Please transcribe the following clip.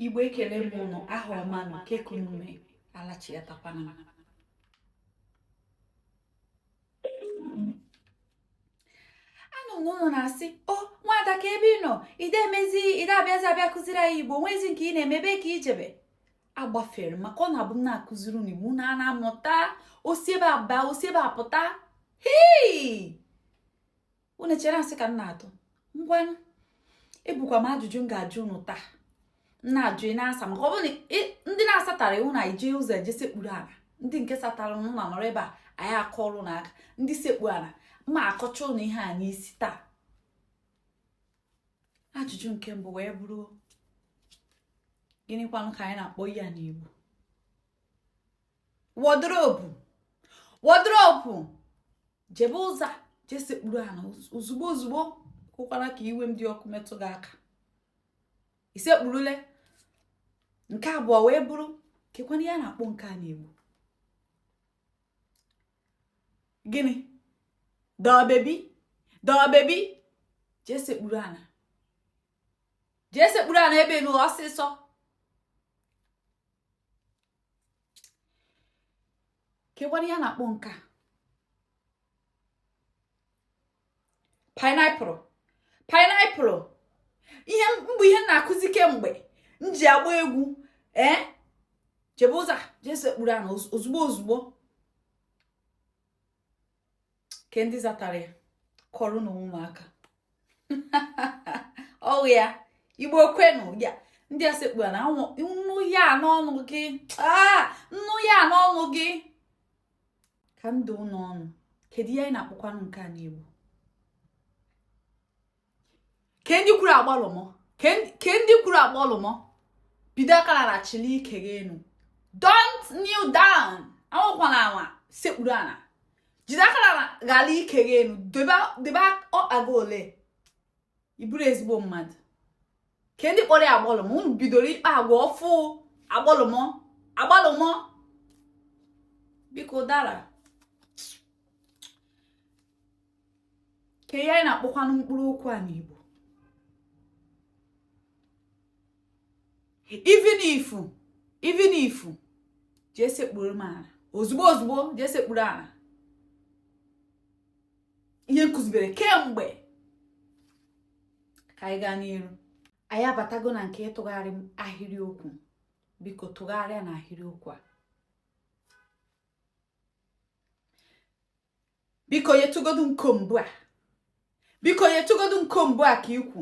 igbo ekele m ụnụ aha ọma na ke ka ụnụ me alachiatakwana anụ m ụnụ na-asị o nwada ke ebe ị nọ i de emezi i de abịazi abịa kụziri anyị igbo nwezi nke ị na-eme ebe ka i jebe agbafere maka ọ na-abụ m na-akụziri unu igbo unu ana amụta o si ebe a aba o si ebe a apụta hei unu chere asị ka m na-atụ ngwanụ ebukwa m ajụjụ m ga-ajụ unu taa m na-ajụ unu na-asa maka ọ bụrụ na ndị na-asatarọ ya unu na-eje ụzọ eje sekpuru ala ndị nke satara ụnụ anọrọ ebe a anyị akụọrọ ụnụ aka ndị sekpu ala m akụcha ụnụ ihe a n'isi taa ajụjụ nke mbụ wee bụrụ gịnịkwanụ ka anyị na-akpọ ya n'Igbo wardrobe wardrobe jebe ụzọ je sekpuru ala ozugbo ozugbo kwụkwara ka iwe m dị ọkụ metụ gị aka i sekpurule nke abụọ wee bụrụ kekwanụ ihe anyị na-akpọ nke a n'Igbo gịnị doll baby doll baby jee sekpuru ala jee sekpuru ala ebe ahụ ọsịsọ kekwanụ ihe anyị na-akpọ nke a pineapple pineapple ihe mgbe ihe m na-akụzi kemgbe m ji agba egwu ee jebe ụzọ je sekpuru ana ozugbo ozugbo ke ndị zatara ya kụọrọ nụ onwe unu aka ọha igbo kwenu ya ndị a sekpuru ana m nụ ya n'ọnụ gị ah, m nụ ya n'ọnụ gị ka ndụ n'ọnụ kedu ihe anyị na-akpọkwanụ nke a n'igbo ke ndị kwuru agbalụmọ ke ndị kwuru agbalụmọ bido aka ana chili ike gị enu don't kneel down anwụkwana anwa sekpuru ana jide aka ana ghara ike gị enu debe ọkpa gị ole ị bụrọ ezigbo mmadụ ke ndị kpọrọ ya agbalụmọ unu bidoro ịkpa agwa ọfụ agbalụmọ agbalụmọ bụkwa ụdara ke ihe anyị na-akpọkwanụ mkpụrụ okwu a n'Igbo even if even if jee sekpuru m ala ozugbo ozugbo jee sekpuru ala ihe m kụzibere kemgbe ka anyị gaa n'iru anyị abatago na nke ịtụgharị ahịrịokwu biko tụgharịa nụ ahịrịokwu a biko yetụgodu m comb a biko yetụgodu m comb a ke i kwu